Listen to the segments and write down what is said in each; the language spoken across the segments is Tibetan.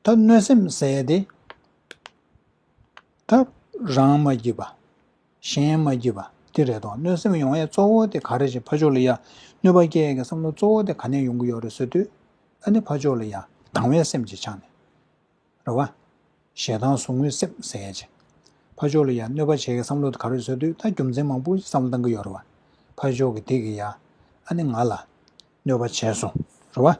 ཐབས་གནོད་སེམས་བསལ་ཏེ། ཐབས་རང་མ་བགྱིས་པ། གཞན་མ་བགྱིས་པ་སྟེ་རེ་དོགས་གནོད་སེམས་ཡོང་ཡས་གཙོ་བོ་དེ་ག་རེ་བྱེད་ཕ་ཆོས་ལ་ཡ་གནོད་པ་སྐྱེ་ཡས་ཀྱི་བསམ་བློ་གཙོ་བོ་དེ་ག་ནས་ཡོང་གི་ཡོད་རེད་ཟེར་དུས། ཨ་ནི་ཕ་ཆོས་ལ་ཡ་སྡང་བའི་སེམས་ཀྱིས་ཆགས་ནས། རེ་བ། ཞེ་སྡང་ཟུག་རྔུའི་སེམས་བསལ་བྱས། ཕ་ཆོས་ལ་ཡ་གནོད་པ་བྱེད་ཀྱི་བསམ་བློ་དེ་ག་རེ་ཟེར་དུས་ད་རྒྱུ་མཚན་མང་པོ་བསམ་བློ་བཏང་གི་ཡོད་རེ་བ། ཕ་ཆོས་ཀྱི་དེ་གི་ཡ་ཨ་ནི་ང་ལ་གནོད་པ་བྱས་སོང་རེ་བ།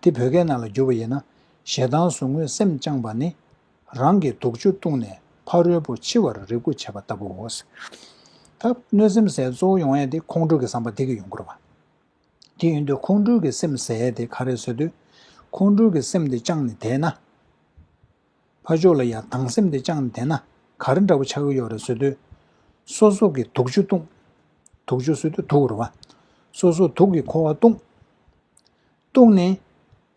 འདི་བོད་སྐད་ནང་ལ་བསྒྱུར་བ་ཡིན་ན། ཞེ་སྡང་ཟུག་རྔུས་སེམས་བཅངས་པ་ནི། རང་གི་དུག་ཆུ་བཏུངས་ནས་ཕ་རོལ་པོ་འཆི་བར་རེ་སྒུག་བྱེད་པ་ལྟ་བུའོ། ད་གནོད་སེམས་ཟད་གཙོ་བོ་ཡོང་ཡས་དེ་ཁོང་ཁྲོ་གི་བསམ་པ་དེ་གི་ཡོང་དགོས་རེད་པ། དེ་ཡིན་དུས་ཁོང་ཁྲོ་གི་སེམས་ཟད་དེ་ག་རེ་བཟོས་དུས། ཁོང་ཁྲོ་གི་སེམས་དེ་བཅངས་ནས་དེས་ན། ཕ་ཆོས་ལ་ཡང་དང་སེམས་དེ་བཅངས་ནས་དེད་ན་ག་རེ་འདྲ་བོ་ཆགས་ཀྱི་ཡོད་རེད་བཟོད་དུས། སོ་སོ་གི་དུག་ཆུ་བཏུངས། དུག་ཆུ་བཟོད་དུས་དུག་རུ་བ། སོ་སོ་དུག་གི་འཁོར་བ་བཏུངས། བཏུངས་ནས།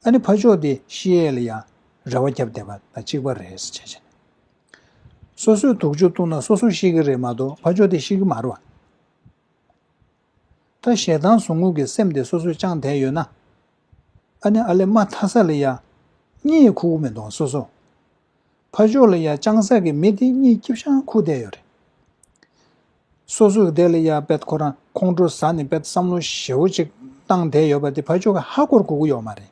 ཨ་ནི་ཕ་ཆོས་དེ་ཤི་ཡས་ལ་ཡང་རེ་བ་བརྒྱབ་བསྡད་པ་དང་གཅིག་པ་རེད་ཟེར་བྱས་བྱས་ནས། སོ་སོའི་དུག་ཆུ་བཏུངས་ན་སོ་སོ་ཤི་གི་རེད་མ་གཏོགས་ཕ་ཆོས་དེ་ཤི་གི་མ་རུ་བ། ད་ཞེ་སྡང་ཟུག་རྔུ་གི་སེམས་དེ་སོ་སོས་བཅངས་བསྡད་ཡོད་ན། ཨ་ནེ་ཨ་ལེ་མ་དྷ་ས་ལི་ཡ། གཉིད་ཁུག་མི་འདུག་སོ་སོ། ཕ་ཇོ་ལི་ཡ་བཅངས་ས་གི་མི་དེ་གཉིད་སྐྱིབ་ཤང་ཁུག་བསྡད་ཡོད་རེད། སོ་སོས་བསྡད་ལི་ཡ་པད་ཁོ་རང་ཁོང་ཁྲོ་ཟ་ནི་པད་བསམ་བློ་ཞེ་བོ་ཅིག་བཏང་བསྡད་ཡོད་པ་དེ་ཕ་ཇོ་གི་ཧ་གོར་གོ་གི་ཡོད་མ་རེད།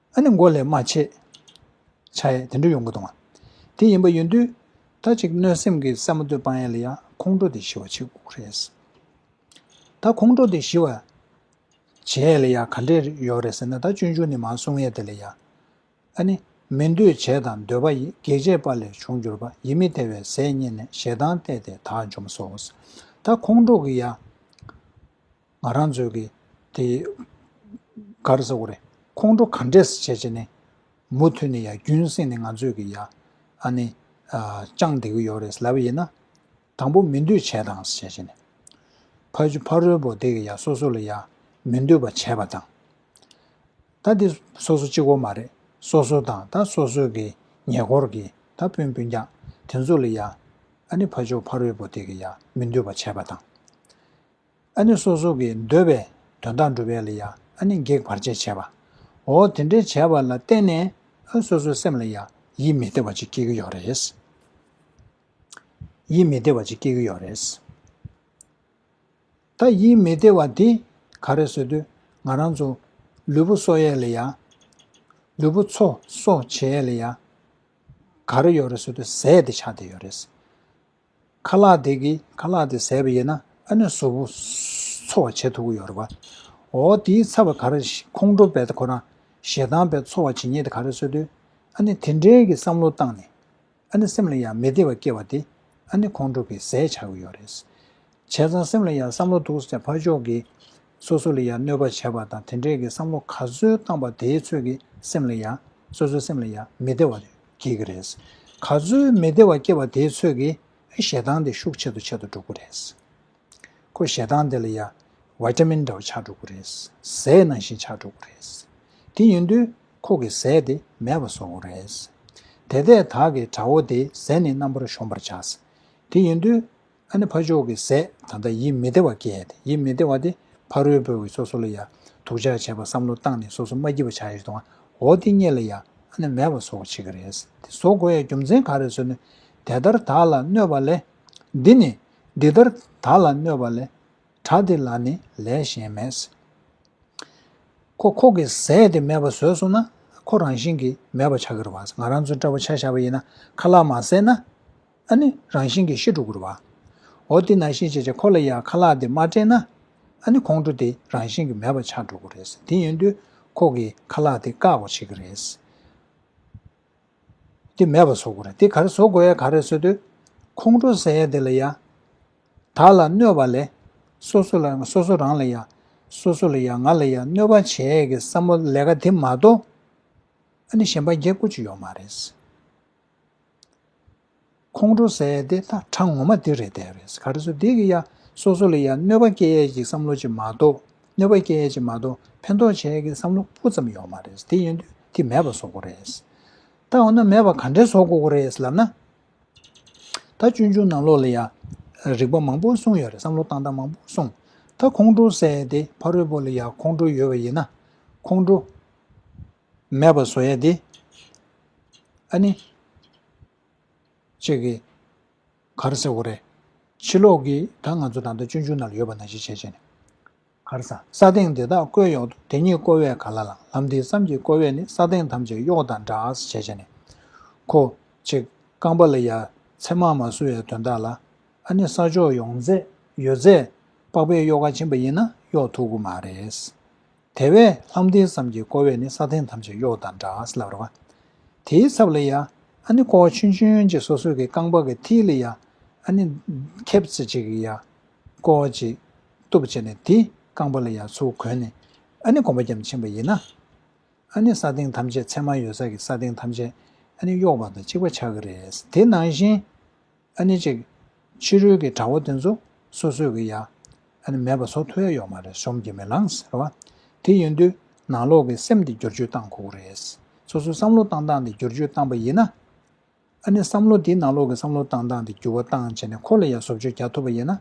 ཨ་ནི་མགོ་ལས་རྨ་བྱས། བྱ་ཡས་དེ་འདྲ་ཡོང་གི་དང་བ། དེ་ཡིན་པ་ཡོད་དུས། ད་ཅིག་གནོད་སེམས་ཀྱི་སེ་མོ་སྟོད་སྤང་ཡས་ལ་ཡང་ཁོང་ཁྲོ་དེ་ཞི་བ་བྱེད་དགོས་རེད་ཟེར། ད་ཁོང་ཁྲོ་དེ་ཞི་བ། བྱེད་ཡས་ལ་ཡང་ག་འདྲས་ཡོད་རེད་ཟེར་ན་ད་སྤྱོད་འཇུག་ནི་མ་གསུང་ཡས་དེ་ལ་ཡང། ཨ་ནི། མི་འདོད་བྱས་དང་འདོད་པ་ཡི་གེགས་བྱས་པ་ལས་བྱུང་གྱུར་པ་ཡིད་མི་བདེ་བའི་ཟས་རྙེད་ནས་ཞེ་སྡང་བརྟས་ཏེ་དག་འཇོམས་སོ། ད་ཁོང་ཁྲོ་གི་ཡ། ང་རང་ཚོའི་གི་དེ་གར་ཟེར་བ་རེད་ཁོང་ཁྲོ་ག་འདྲས་སུ་བྱས་བྱས་ནས་མུ་མཐུད་ནས་ཡ་རྒྱུན་བསྲིངས་ནས་ང་ཚོས་གི་ཡ་ཨ་ནི་བཅངས་བསྡད་གི་ཡོད་རེད་ལབ་ཡིན་ན་དང་པོ་མི་འདོད་བྱས་དང་བྱས་བྱས་ནས་ཕ་ཆུ་ཕ་རོལ་པོ་དེ་གི་ཡ་སོ་སོ་ལ་ཡ་མི་འདོད་པ་བྱས་པ་དང། ད་དེ་སོ་སོ་གཅིག་བོ་མ་རེད་སོ་སོ་དང་ད་སོ་སོའི་གི་ཉེ་འཁོར་གི་ད་སྤུན་སྤུན་རྒྱག་དེ་ཚོ་ལ་ཡ་ཨ་ནི་ཕ་ཆུ་ཕ་རོལ་པོ་དེ་གི་ཡ་མི་འདོད་པ་བྱས་པ་དང། ཨ་ནི་སོ་སོ་ཀྱི་འདོད་པའི་དོན་དག་འགྲུབ་པས་ལ་ཡང་ཨ་ནི་བགེགས་བར་ཆད་བྱེད་པ། འོ་དེ་འདྲའི་བྱས་པ་ལ་བརྟེན་ནས་ཨ་སོ་སོའི་སེམས་ལ་ཡང་ཡིད་མི་བདེ་བ་ཅིག་སྐྱེ་གི་ཡོད་རེད། ཡིད་མི་བདེ་བ་ཅིག་སྐྱེ་གི་ཡོད་རེད། ད་ཡིད་མི་བདེ་བ་དེ་ག་རེ་བཟོས་དུས་ང་རང་ཚོ་ལུས་པོ་གསོ་ཡས་ལ་ཡང། ལུས་པོ་ཚོ་གསོ་བྱེད་ཡས་ལ་ཡང། ག་རེ་ཡོད་རེད་བཟོས་དུས་ཟས་དེ་ཆགས་བསྡད་ཡོད་རེད། ཁ་ལག་དེ་གིས་ཁ་ལག་དེ་ཟས་པ་ཡིན་ན་ཨ་ནུས་བཟོ་བོ་འཚོ་བ་བྱེད་ཐུབ་ཀྱི་ཡོད་རེད་པ། འོ་དེའི་ཚབ་པ་ག་རེ་ཁོང་ཁྲོ་བས་ཁོ་རང་ཞེ་སྡང་བས་འཚོ་བ་བྱེད་ཉེས་དེ་ག་རེ་བཟོས་དུས་ཨ་ནི་དེ་འདྲའི་གི་བསམ་བློ་བཏང་ནས་ཨ་ནི་སེམས་ལ་ཡང་མི་བདེ་བ་སྐྱེ་བ་དེ་ཨ་ནི་ཁོང་ཁྲོ་གིས་ཟས་བྱ་གི་ཡོད་རེད། བྱས་ཙང་སེམས་ལ་ཡང་བསམ་བློ་འདུག་ཟེར་ཕར་ཕྱོགས་ཀྱིས། སོ་སོ་ལ་ཡང་གནོད་པ་བྱས་པ་དང་དེ་འདྲས་ཀྱི་བསམ་བློ་ག་ཚོད་བཏང་པ་དེའི་ཚོད་ཀྱིས་སེམས་ལ་ཡང། སོ་སོའི་སེམས་ལ་ཡང་མི་བདེ་བ་སྐྱེ་གི་རེད། ག་ཚོད་མི་བདེ་བ་སྐྱེ་བ་དེའི་ཚོད་ཀྱིས་ཞེ་སྡང་དེ་ཤུགས་ཆེ་དུ་ཆེ་དུ་འགྲོ་གི་རེད། ཁོ་ཞེ་སྡང་དེ་ལ་ཡང། ཝེ་ཏ་མིན་འདྲ་བ་ཆགས་འགྲོ་གི་རེད། ཟས་ནང་བཞིན་ཆགས་འགྲོ་གི་རེད། དེ་ཡིན་དུས་ཁོ་གི་ཟས་དེ་མེད་པ་བཟོ་གི་རེད། དེ་ལྟས་དག་གིས་དགྲ་བོ་དེའི་ཟས་ནི་རྣམ་པར་གཞོམ་པར་བྱ། དེ་ཡིན་དུས་ཨ་ནི་ཕ་མཆོག་གི་ཟས་ད་ལྟ་ཡིད་མི་བདེ་བ་སྐྱེས་ཏེ་ཡིད་མི་བདེ་བ་དེ་ཕ་རོལ་པོས་འོད་སོ་སོ་ལ་ཡང་དུག་ཆགས་བྱས་པར་བསམ་བློ་བཏང་ནས་སོ་སོ་མ་སྐྱིད་པ་ཆགས་ཡོད་དོ་འོ་དེ་གཉིས་ལ་ཡང་ཨ་ནི་མེད་པར་བཟོ་བར་བྱེད་ཀྱི་རེད་དེ་བཟོ་དགོས་ཡ་རྒྱུ་མཚན་ག་རེ་བཟོ་ནུས་དེ་ལྟར་དག་ལ་གནོད་པ་ལས། འདི་ནི། འདི་ལྟར་དག་ལ་གནོད་པ་ལས། གྲགས་དེ་ལ་ནི་ལས་གཞན་མེད། ཁོ་ཁོ་གི་ཟས་དེ་མེད་པར་བཟོས་སོང་ན་ཁོ་རང་བཞིན་གྱིས་མེད་པར་ཆགས་ཀྱི་རེད་ང་རང་ཚོའི་སྤྲ་བོ་ཆ་བཞག་པ་ཡིན་ན་ཁ་ལག་མ་བསྲེས་ན། ཨ་ནི་རང་བཞིན་གྱིས་ཤེས་འགྲོ་དགོས་རོ། འོ་དེས་ན་ཤེས་བྱེད་ཅེས་ཁོ་ལ་ཡང་ཁ་ལག་དེ་མ་སྤྲད་ན། ཨ་ནི་ཁོང་ཁྲོ་དེ་རང་བཞིན་གྱིས་མེད་པར་ཆགས་འགྲོ་དགོས་རེད། དེ་ཡིན་དུས་ཁོ་གིས་ཁ་ལག་དེ་བཀག་པར་བྱེད་ཀྱི་རེད། དེ་མེད་པར་བཟོ་དགོས་རེད་དེ་ག་རེ་བཟོ་དགོས་ཡ་ག་རེ་བཟོས་དུས། ཁོང་ཁྲོ་ཟེར་ཡ་དེ་ལ་ཡང་དག་ལ་གནོད་པ་ལས། སོ་སོ་ལ་སོ་སོ་རང་ལ་ཡང་སོ་སོ་ལ་ཡང་ང་ལ་ཡང་གནོད་པ་བྱས་ཀྱི་བསམ་བློ་ལས་ཀ་དེ་མ་གཏོགས། ཨ་ནི་གཞན་པ་རྒྱལ་དགོས་ཅི་ཡོད་མ་རེད། ཁོང་ཁྲོ་ཟས་དེ་ད་གྲ་ངོ་མ་དེ་རེད་དེ་རེད་ག་རེ་སོ་དེ་གི་ཡ་སོ་སོ་ལ་ཡ་གནོད་པ་སྐྱེལ་ཡས་ཀྱི་བསམ་བློ་ཅིག་མ་གཏོགས་གནོད་པ་སྐྱེལ་ཡས་ཅིག་མ་གཏོགས་ཕན་ཐོག་བྱས་ཀྱི་བསམ་བློ་སྤུ་ཙམ་ཡོག་མ་རེད་དེ་ཡིན་དུས་དེ་མེད་པ་བཟོ་གོ་རེད་ད་འོ་ན་མེད་པ་ག་འདྲས་བཟོ་གོ་གོ་རེད་ལབ་ན། ད་ཅུང་ཅུང་ནང་ལོག་ལ་ཡ་རིག་པ་མང་པོ་གསུངས་ཡོད་རེད་བསམ་བློ་བཏང་སྟངས་མང་པོ་གསུངས་ད་ཁོང་ཁྲོ་ཟས་དེ་ཕ་རོལ་པོ་ལ་ཡ་ཁོང་ཁྲོ་ཡོད་པ་ཡིན་ན་ཁོང་ཁྲོ། མེད་པར་བཟོ་ཡ་དེ། ཨ་ནི། ཅེས་ཀྱི། གར་ཟེར་བོ་རེད། ཕྱི་ལོགས་ཀྱི་ད་ང་ཚོ་ད་ལྟ་སྤྱོད་འཇུག་ན་ལ་ཡོད་པ་ན་ཞིག་བྱས་བྱས་ནས། གར་ས། ས་སྟེང་དེ་དག་བཀོད་གཡོག་ཏུ་དེ་ཉིད་བཀོལ་བས་ག་ལ་ལང་ལམ་དེའི་བསམ་གྱིས་བཀོལ་བས་ནི་ས་སྟེང་ཐམས་ཅད་གཡོག་དང་འདྲ་ཨཱས་བྱས་བྱས་ནས། ཁོ། ཅེས་རྐང་པ་ལ་ཡ། མཚན་མར་མ་བསུ་བའི་དོན་དག་ལ། ཨ་ནི་ས་ཕྱོགས་ཡོང་ཚད་ཡོད་ཚད། པགས་པའི་གཡོག་ཁ་བྱིན་པ་ཡིན་ན་གཡོག་ཐུབ་ཀི་མ་རེད། དེ་བས་ལྷ་མཐིང་བསམ་གྱིས་བསྐོར་བས་ནི་ས་སྟེང་ཐམས་ཅད་གཡོགས་དང་འདྲ་ཞེས་ལབ་རོ། དེའི་ཚབ་ལ་ཡང། ཨ་ནི་བསྐོར་བ་ཆུན་ཆུན་གྱི་སོ་སོ་ཀྱི་རྐང་པ་གི་མཐིལ་ལ་ཡང། ཨ་ནི། ཁེབས་ཚིག་ཅིག་གིས་ཡང། བསྐོར་བ་ཅིག། གཏུབས་བྱས་ནས་དེའི་རྐང་པ་ལ་ཡང་ཚུར་གོན་ནས། ཨ་ནི་གོམ་པ་བརྒྱའམ་འཆིང་བ་ཡིན་ན། ཨ་ནི་ས་སྟེང་ཐམས་ཅད་མཚན་མ་ཡོད་ས་ཀྱི་ས་སྟེང་ཐམས་ཅད་ཨ་ནི་གཡོགས་པ་དང་གཅིག་པ་ཆགས་ཀྱི་རེད། དེ་ནང་བཞིན། ཨ་ནི་ཅིག། ཕྱི་རོལ་གྱི་གྲྭ་བ་དེ་ཚོ་སོ་སོས་གི་ཡ། ཨ་ནི་མེད་པ་ཟོ་ཐུ་ཡ་ཡོག་མ་རེད་ཞོམ་གྱི་མི་ལངས་ཟེར་བ། དེ་ཡིན་དུས་ནང་ལོག་གི་སེམས་དེ་བསྒྱུར་བཅོས་བཏང་ཁོག་རེད། སོ་སོས་བསམ་བློ་བཏང་སྟངས་དེ་བསྒྱུར་བཅོས་བཏང་པ་ཡིན་ན། ཨ་ནི་བསམ་བློ་དེ་ནང་ལོག་གི་བསམ་བློ་བཏང་སྟངས་དེ་འགྱུར་བ་བཏང་བྱས་ནས་ཁོ་ལ་ཡ་བཟོ་བཅོས་རྒྱག་ཐུབ་པ་ཡིན་ན།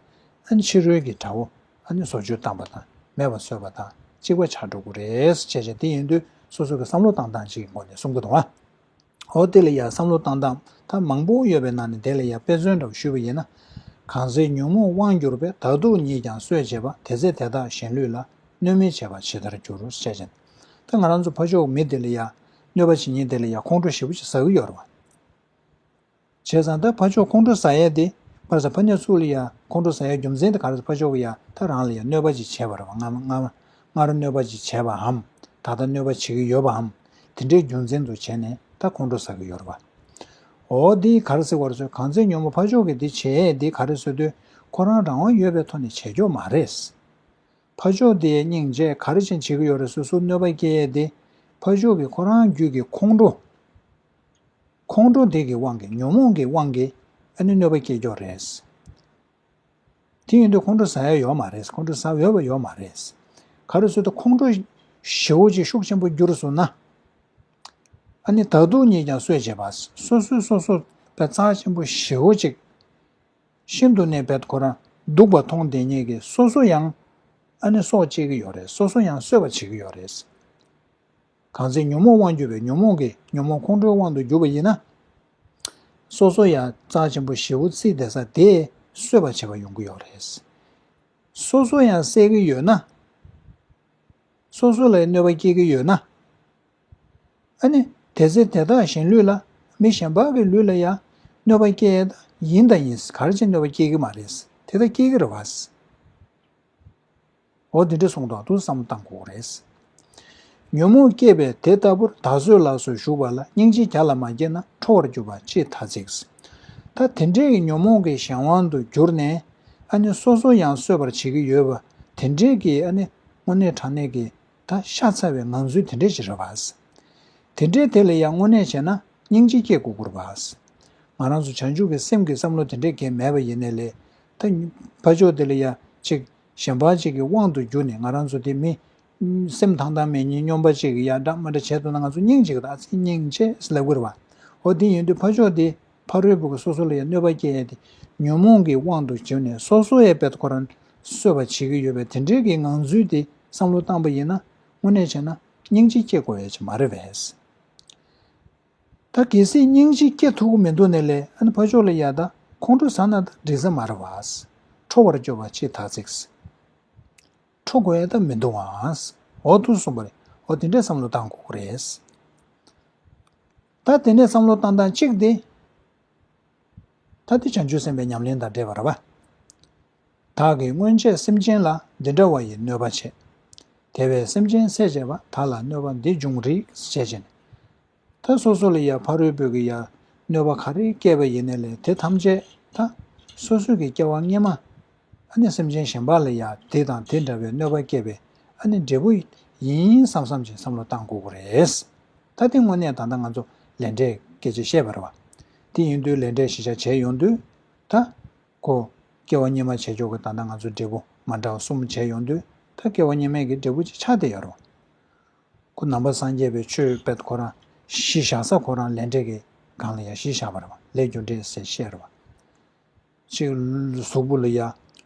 ཨ་ནི་ཕྱི་རོལ་གྱི་གྲྭ་བོ་ཨ་ནི་བཟོ་བཅོས་བཏང་པ་དང་མེད་པ་བཟོས་པ་དང་གཅིག་པ་ཆགས་འགྲོ་གི་རེད་བྱས་བྱས་དེ་ཡིན་དུས་སོ་སོ་གི་བསམ་བློ་བཏང་སྟངས་གཅིག་གི་སྒོ་ནས་གསུམ་ག་དུ་བ། ཨོ་དེ་ལ་ཡང་བསམ་བློ་བཏང་སྟངས་ཐབས་མང་པོ་ཡོད་པའི་ནང་ནས་དེ་ལ་ཡང་དཔེ་མཚོན་འདྲ་བོ་ཞུས་པ་ཡིན་ན། གང་ཟེར་ཉོན་མོངས་དབང་བསྒྱུར་པས་དག་སྡུག་གཉིས་ཀྱང་གསོད་བྱེད་པ་དེ་ཚེ་དེ་དག་གཞན་ལུས་ལ་གནོད་མི་བྱེད་པ་ཇི་ལྟར་འགྱུར་རོ་བཤད་ཅིང། ད་ང་རང་ཚོ་ཕ་ཕྱོགས་ཀྱི་མི་དེ་ལ་ཡང་གནོད་པ་བྱེད་ཉེན་དེ་ལ་ཡང་ཁོང་ཁྲོ་ཞེ་པོ་ཅིག་ཟ་གི་ཡོད་རེད་བ། བྱས་ཙང་ད་ཕ་ཆོག་ཁོང་ཁྲོ་ཟ་ཡས་དེ་ཕར་ཟ་ཕ་ཉར་ཚུགས་ལ་ཡ་ཁོང་ཁྲོ་ཟ་ཡས་རྒྱུ་མཚན་དེ་ག་རེ་ད་ཕ་ཆོག་གི་ཡ་ད་རང་ལ་ཡ་གནོད་པ་ཅིག་བྱས་པ་རེད་བ་ང་ང་ང་ར་གནོད་པ་ཅིག་བྱས་པའམ་ད་ལྟ་གནོད་པ་བྱེད་ཀྱི་ཡོད་པའམ་དེ་འདྲའི་རྒྱུ་མཚན་དུ་བྱས་ནས་ད་ཁོང་ཁྲོ་ཟ་གི་ཡོད་རེད་བ། འོ་དེ་ག་རེ་ཟེར་བ་རེད་ཚོད་གང་ཚེ་ཉོན་མོ་ཕ་ཆོག་གི་དེ་བྱས་ཡས་དེ་ག་རེ་བཟོས་དུས་ཁོ་རང་རང་དབང་ཡོད་པའི་ཐོག་ནས་བྱས་ཁྱོག་མ་རེད། ཕ་ཆོག་དེ་ཡས་སྙིང་རྗེ་ག་རེ་ཅན་བྱེད་ཀྱི་ཡོད་རེད་སོ་སོར་གནོད་པ་སྐྱེལ་ཡས་དེ་ཕ་ཆོག་གི་ཁོ་རང་རྒྱུད་ཀྱི་ཁོང་ཁྲོ། ཁོང་ཁྲོ་འདས་ཀྱི་དབང་གིས་ཉོན་མོངས་ཀྱི་དབང་གིས་ཨ་ནུའི་གནོད་པ་སྐྱེས་ཀྱོག་རེད། དེ་ཡིན་དུས་ཁོང་ཁྲོ་ཟ་ཡ་ཡོད་མ་རེད་ཁོང་ཁྲོ་ཟ་འོས་པ་ཡོད་མ་རེད། ག་རེ་སུ་དེ་ཁོང་ཁྲོ་ཞེའུ་ཅིག་ཤུགས་ཆེན་པོ་བསྒྱུར་སོང་ན། ཨ་ནི་ད་དུང་ཉིད་ཀྱང་གསོད་བྱེད་པ་སོ་སོའི་སོ་སོ་བའི་རྩ་ཆེན་པོ་ཞེའུ་ཅིག་ཤིན་ཏུ་ནས་བད་ཁོ་རང་སྡུག་པ་མཐོང་བདེན་ཉེས་ཀྱི་སོ་སོ་ཡང་ཨ་ནི་སྲོག་བཅད་ཀྱི་ཡོད་རེད་སོ་སོ་ཡང་གསོད་པ་བྱེད་ཀྱི་ཡོད་རེད། གང་ཚེ་ཉོན་མོངས་དབང་གྱུར་པའི་ཉོན་མོངས་ཀྱིས་ཉོན་མོངས་ཁོང་ཁྲོའི་དབང་དུ་གྱུར་པ་ཡིན་ན། སོ་སོ་ཡང་རྩ་ཆེན་པོ་བཞི་བོ་ཚིག་དེ་ས་དེས་གསོད་པར་བྱེད་པ་ཡོང་གི་ཡོད་རེད། སོ་སོ་ཡང་སྲེག་གི་ཡོད་ན། སོ་སོ་ལ་ཡང་གནོད་པ་སྐྱེལ་གྱི་ཡོད་ན། ཨ་ནི་དེ་ཚེ་དེ་དག་གཞན་ལུས་ལ་མི་གཞན་དག་གི་ལུས་ལ་ཡང་གནོད་པ་སྐྱེལ་ཡས་དག་ཡིན་དང་ཡིན་གར་བྱེད་གནོད་པ་སྐྱེལ་གྱི་མ་རེད། དེ་དག་སྐྱེལ་གྱི་རེད། འོ་དེ་འདྲ་གསུངས་དང་ཐུགས་བསམ་བཏང་ཁོག་རེད། ཉོན་མོངས་སྐྱེས་པས་དེ་ལྟ་བུར་ད་གཟོད་ལགས་སོ་བཞུགས་པ་ལ་སྙིང་རྗེ་ག་ལ་མ་སྐྱེས་ན་ཁྲོ་བར་གྱུར་པ་ཅི་ཐ་ཚིག། ད་དེ་འདྲས་ཀྱི་ཉོན་མོངས་ཀྱི་གཞན་དབང་དུ་གྱུར་ནས་ཨ་ནི་སོ་སོ་ཡང་གསོད་པར་བྱེད་ཀྱི་ཡོད་པ་དེ་འདྲས་ཀྱི་ཨ་ནི་དངོས་གནས་དྲང་གནས་ཀྱི་ད་ཤ་ཚ་བའི་ངང་ཚུལ་དེ་འདྲས་ཅི་རེད་བ། དེ་འདྲས་དེ་ལ་ཡང་དངོས་གནས་བྱས་ན་སྙིང་རྗེ་སྐྱེ་དགོས་སྐོར་བ། ང་རང་ཚོ་བྱང་ཆུབ་ཀྱི་སེམས་ཀྱི་བསམ་བློ་དེ་འདྲས་འགན་མེད་པ་ཡིན་ནས་ལས་ད་ཕ་ཆོག་དེ་ལ་ཡང་ཅིག་གཞན་པ་ཅིག་གི་དབང་དུ་གྱུར་ནས་ང་རང་ཚོ་དེ་མི། སེམས་ཐང་ཐང་མེད་ཉེས་སྙོམས་པ་ཅིག་གི་ཡར་དགྲ་མར་དགྲ་བྱས་འདུག་ན་ང་ཚོ་སྙིང་གཅིག་དང་ཨ་ཚེ་སྙིང་རྗེས་ལ་གུས་པ། ཨོ་དེ་ཡིན་དུས་ཕ་ཕྱོགས་དེ་ཕ་རོལ་པོ་གི་སོ་སོ་ལ་ཡང་གནོད་པ་སྐྱེལ་ཡས་དེ་ཉོན་མོངས་ཀྱི་དབང་དུ་གྱུར་ནས་སོ་སོ་ཡས་བེད་ཁོ་རང་གསོད་པ་བྱེད་ཀྱི་ཡོད་པས་དེ་འདྲའི་གི་ངང་ཚུལ་དེ་བསམ་བློ་བཏང་པ་ཡིན་ན་དངོས་གནས་བྱས་ན་སྙིང་རྗེ་སྐྱེ་དགོས་ཡས་ཆེ་མ་རེད་བས། ད་གལ་སྲིད་སྙིང་རྗེ་སྐྱེ་ཐུབ་ཀྱི་མི་འདུག་ནས་ལས་ཨན་ཕ་ཆོག་ལ་ཡ་ད་ཁོང་ཁྲོ་ཟ་ན་ད་འགྲིག་ས་མ་རེད་བས། ཁྲོ་བར་སྐྱོ་བ་ཆེས་ཐག་ཚིགས། ཁྲོ་དགོས་ཡ་ད་མི་འདུག་ཨང། འོ་ཐུག་སོང་བ་རེད་འོ་དེ་འདྲས་བསམ་བློ་བཏང་དགོས་ཀྱི་རེད། ད་དེ་ནས་བསམ་བློ་བཏང་སྟངས་གཅིག་དེ། ད་དེ་བྱང་ཆུབ་སེམས་དཔའི་ཉམས་ལེན་དང་འདྲེས་པ་རེད་བས། བདག་གིས་སྔོན་ཆད་སེམས་ཅན་ལ་འདི་འདྲ་བ་ཡི་གནོད་པ་བྱས། དེ་བས་སེམས་ཅན་སྲས་བཅས་པ་དག་ལ་གནོད་པ་འདི་འབྱུང་རིགས་ཞེས་བྱས་ནས། ད་སོ་སོ་ལ་ཡང་ཕ་རོལ་པོས་ཀྱི་ཡང་གནོད་པ་ག་རེ་བསྐལ་པ་ཡི་ནས་ལས་དེ་ཐམས་ཅད་ད་སོ་སོའི་ཀྱི་སྐྱེ་བ་སྔས་མ། ཨ་ནི་སེམས་ཅན་གཞན་པ་ལ་ཡང་དེ་དང་དེ་འདྲ་བའི་གནོད་པ་བསྐལ་པའི་ཨ་ནི་འབྲས་བུ་ཡིན་བསམ་བསམ་ཅིག་བསམ་བློ་བཏང་དགོས་དགོས་རེད། ད་དེ་དངོས་གནས་ད་ལྟ་ང་ཚོ་ལས་འབྲས་སྐད་ཅིག་བཤད་པར་བ་དེ་ཡིན་དུས་ལས་འབྲས་ཞི་ཆ་བྱས་ཡོང་དུས་ད་གོ། སྐྱེ་བ་སྙེ་མ་བྱེད་ཆོག་གི་ད་ལྟ་ང་ཚོ་འབྲས་བུ་མ་འདྲ་བ་གསུམ་བྱས་ཡོང་དུས་ད་སྐྱེ་བ་སྙེ་མས་ཀྱི་འབྲས་བུ་གཅིག་ཆགས་དེ་ཡོད་རུང། ཁུ་ནམ་པ་སངས་རྒྱས་པའི་ཆོས་དཔལ་ཁོ་རང་གཞི་བཞག་ས་ཁོ་རང་ལས་འབྲས་ཀྱི་སྒང་ལ་ཡ་གཞི་བཞག་པ་རེད་བ་ལས་རྒྱུ་འབྲས་ཟེར་བཤད་རེད་བ། ཅིག་གཟུགས་པོ་ལ་ཡ་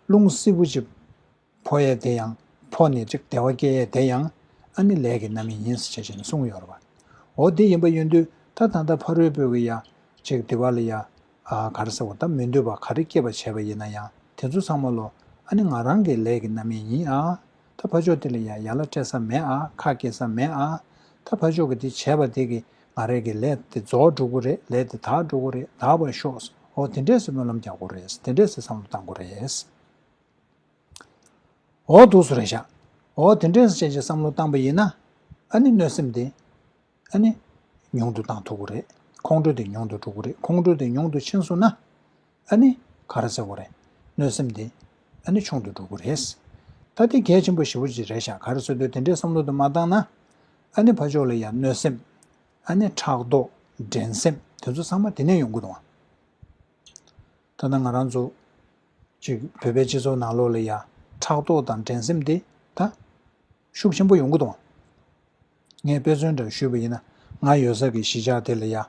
རླུང་བསིལ་པོ་ཅིག་ཕོ་ཡས་དེ་ཡང་ཕོ་ནས་ཅིག་དེ་བ་སྐྱེས་ཡས་དེ་ཡང་ཨ་ནི་ལས་ཀྱི་རྣམ་སྨིན་ཡིན་ཟེར་བྱས་ཅན་གསུངས་ཡོ་ར་བ། འོ་དེ་ཡིན་པ་ཡོད་འདུས་ད་ད་ལྟ་ཕ་རོལ་པོས་ཀྱི་ཡ། ཅིག་དེ་བ་ལ་ཡ། ག་ར་ཟེར་བ་ད་མི་འདོད་པ་ག་རེ་སྐྱེས་པ་བྱས་པ་ཡིན་ན་ཡང་དེ་ཚོ་ཚང་མ་ལོ་ཨ་ནི་ང་རང་གི་ལས་ཀྱི་རྣམ་སྨིན་ཡིན་ཨ། ད་ཕ་ཆོག་དེ་ལ་ཡ་ཡ་ལ་སྤྲད་ས་མེད་ཨ་ཁ་སྐྱེ་ས་མེད་ཨ། ད་ཕ་ཆོག་གི་དེ་བྱས་པ་དེ་གི་ང་རེ་གི་ལས་དེ་རྫོགས་འགྲོ་གུ་རེད་ལས་དེ་དག་འགྲོ་གུ་རེད་དག་བ་ཤོག་ཨོ་དེ་འདྲས་སུ་སྨོན་ལམ་རྒྱག་གུ་རེད་དེ་འདྲས་སུ་བསམ་བློ་བཏང་གུ་རེད། འོ་དུག་སུ་རེད་བཞག་འོ་དེ་འདྲས་བྱས་བྱས་བསམ་བློ་བཏང་པ་ཡིན་ན། ཨ་ནི་གནོད་སེམས་དེ། ཨ་ནི། ཉུང་དུ་བཏང་ཐུབ་གི་རེད་ཁོང་ཁྲོ་དེ་ཉུང་དུ་འགྲོ་གི་རེད་ཁོང་ཁྲོ་དེ་ཉུང་དུ་ཕྱིན་སོང་ན། ཨ་ནི། ག་རེ་ཟེར་བ་རེད། གནོད་སེམས་དེ། ཨ་ནི་ཆུང་དུ་འགྲོ་གི་རེད། ད་དེ་གལ་ཆེན་པོ་ཞེ་བོ་ཅིག་རེད་བཞག་ག་རེ་བཟོ་འདོད་དེ་འདྲས་བསམ་བློ་དུ་མ་བཏང་ན། ཨ་ནི་ཕ་ཕྱོགས་ལ་ཡང་གནོད་སེམས། ཨ་ནི་ཕྲག་དོག། འགྲན་སེམས་དེ་ཚོ་ཚང་མ་དེ་ནས་ཡོང་གི་རུང། ད་ལྟ་ང་རང་ཚོ་གཅིག་བོད་པའི་སྤྱི་ཚོགས་ནང་ལོགས་ལ་ཡང་ཕྲག་དོག་དང་འགྲན་སེམས་དེ་ད་ཤུགས་ཆེན་པོ་ཡོང་གི་འདུག་ངས་དཔེ་མཚོན་འདྲ་ཞུས་པ་ཡིན་ན་ང་ཡོད་སར་གྱི་གཞིས་ཆགས་དེ་ལ་ཡང་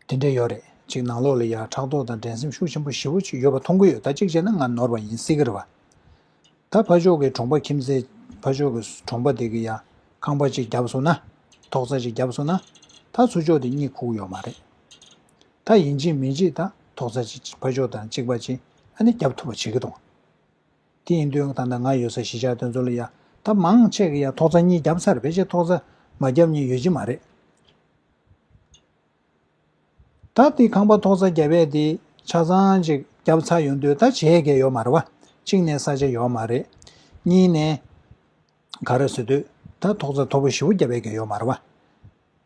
དེ་འདྲ་ཡོད་རེད་གཅིག་ནང་ལོགས་ལ་ཡང་ཕྲག་དོག་དང་འགྲན་སེམས་ཤུགས་ཆེན་པོ་ཞི་བོ་ཅིག་ཡོད་པ་མཐོང་གི་ཡོད་ད་གཅིག་བྱས་ན་ང་ནོར་བ་ཡིན་སྲིད་ཀྱི་རེད་བ་ད་ཕ་ཕྱོགས་ཀྱི་གྲོང་པ་ཁྱིམ་མཚེས་ཕ་ཕྱོགས་ཀྱི་གྲོང་པ་དེ་གི་ཡང་ཁང་པ་གཅིག་བརྒྱབ་སོང་ན་ཐོག་རྩ་གཅིག་བརྒྱབ་སོང་ན་ད་ཚུར་ཕྱོགས་དེ་གཉིད་ཁུག་ཡོད་མ་རེད། ད་ཡིན་གཅིག་མིན་གཅིག་དང་ཐོག་རྩ་གཅིག་ཕ་ཕྱོགས་དང་གཅིག་པ་གཅིག་ཨ་ནི་རྒྱབ་ཐུབ་པ་བྱེད་ཀྱི་འདུག་དེ་ཡིན་དུས་ད་ལྟ་ང་ཡོད་ས་གཞིས་ཆགས་དོན་གཙོ་ལ་ཡ་ད་མང་ཆེ་གི་ཡ་ཐོག་རྩ་གཉིས་རྒྱབ་ཚར་བས་ཆེ་ཐོག་རྩ་མ་རྒྱབ་གཉིས་ཡོད་ཀྱི་མ་རེད། ད་དེ་ཁང་པ་ཐོག་རྩ་རྒྱབ་བས་དེ་ཆ་ཚང་གཅིག་རྒྱབ་ཚར་ཡོང་དུས་ད་བྱས་གལ་ཡོད་མ་རེད་བ་གཅིག་ནས་ས་ཆ་ཡོད་མ་རེད། གཉིས་ནས་ག་རེ་བཟོས་དུས་ད་ཐོག་རྩ་མཐོ་པོ་བཞི་བོ་རྒྱབ་བས་གལ་ཡོད་མ་རེད་བ།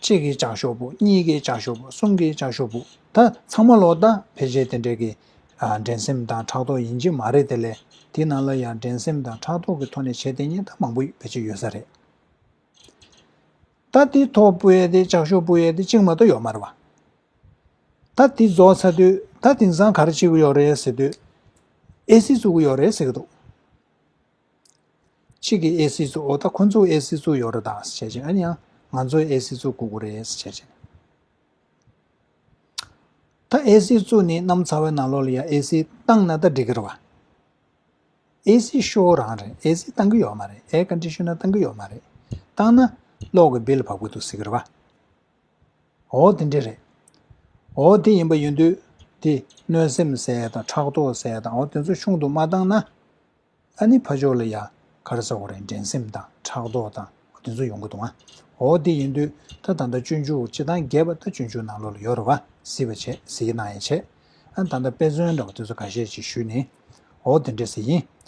གཅིག་གིས་ཀྱང་ཤོག་བུ་གཉིས་ཀས་ཀྱང་ཤོག་བུ་གསུམ་གས་ཀྱང་ཤོག་བུ་ད་ཚང་མ་ལོག་ད་ཕལ་ཆེར་དེ་འདྲས་ཀྱི་འགྲན་སེམས་དང་ཕྲག་དོག་ཡིན་གྱི་མ་རེད་དེ་ལས་དེ་ནང་ལ་ཡང་འགྲན་སེམས་དང་ཕྲག་དོག་གི་ཐོག་ནས་བྱས་ཏེ་ཉེས་ད་མང་པོ་ཕལ་ཆེར་ཡོད་ས་རེད་ད་དེའི་ཐོག་སྤུ་ཡལ་ཏེ་ཅག་ཤོག་སྤུ་ཡལ་ཏེ་གཅིག་མ་གཏོགས་ཡོག་མ་རེད་བ་ད་དེ་རྫོགས་ཚར་དུས་ད་དེང་སང་ག་རེ་བྱེད་གི་ཡོག་རེད་ཟེར་དུས་ཨེ་སི་བཙུགས་གི་ཡོག་རེད་ཟེར་གི་འདུག། གཅིག་གིས་ཨེ་སི་ཚུགས་འོ་ད་ཁོ་ཚོའི་ཨེ་སི་ཚུགས་ཡོད་རེད་དང་བྱས་རྗེས་ཨ་ནི་ཨ་ང་ཚོའི་ཨེ་སི་ཚུགས་དགོས་རེད་བྱས་རྗེས། ད་ཨེ་སི་ཚུགས་ནི་གནམ་ཚ་བའི་ནང་ལོགས་ལ་ཡང་ཨེ་སི་བཏང་ན་ད་འགྲིག་གི་རེད་བ། ཨེ་སི་ཤོར་རང་རེད་ཨེ་སི་བཏང་གི་ཡོད་མ་རེད་ཨེར་ཀན་ཏི་ཤུ་ན་བཏང་གི་ཡོད་མ་རེད་བཏང་ན་གློག་གི་བིལ་བབས་གི་འདུག་ཟེར་གི་རེད་བ། འོ་དེ་འདྲ་རེད། འོ་དེ་ཡིན་པ་ཡིན་དུས་དེ་གནོད་སེམས་སེལ་དང་ཕྲག་དོག་སེལ་དང་འོ་དེ་ཚོ་ཆུང་དུ་མ་བཏང་ན་ཨ་ནི་ཕ་ཕྱོགས་ལ་ཡང་ག་རེ་ཟ་འོ་རེད་འགྲན་སེམས་དང་ཕྲག་དོག་དང་དེ་ཚོ་ཡོང་གི་འདུག་ཨ་འོ་དེ་ཡིན་དུས་ད་ད་ལྟ་སྤྱོད་འཇུག་བྱེད་སྟངས་རྒྱས་པ་ད་སྤྱོད་འཇུག་ནང་ལོག་ལ་ཡོད་རེད་བ་ཟེར་བ་བྱས་ཟེར་གྱི་གནང་ཡས་བྱས་ཨ་ད་ད་དཔེ་མཚོན་འདྲ་བ་དེ་ཚོ་ག་ཤེད་ཅིག་ཞུས་ནས་ཨོ་དེ་འདྲས་ཟེར་གྱིན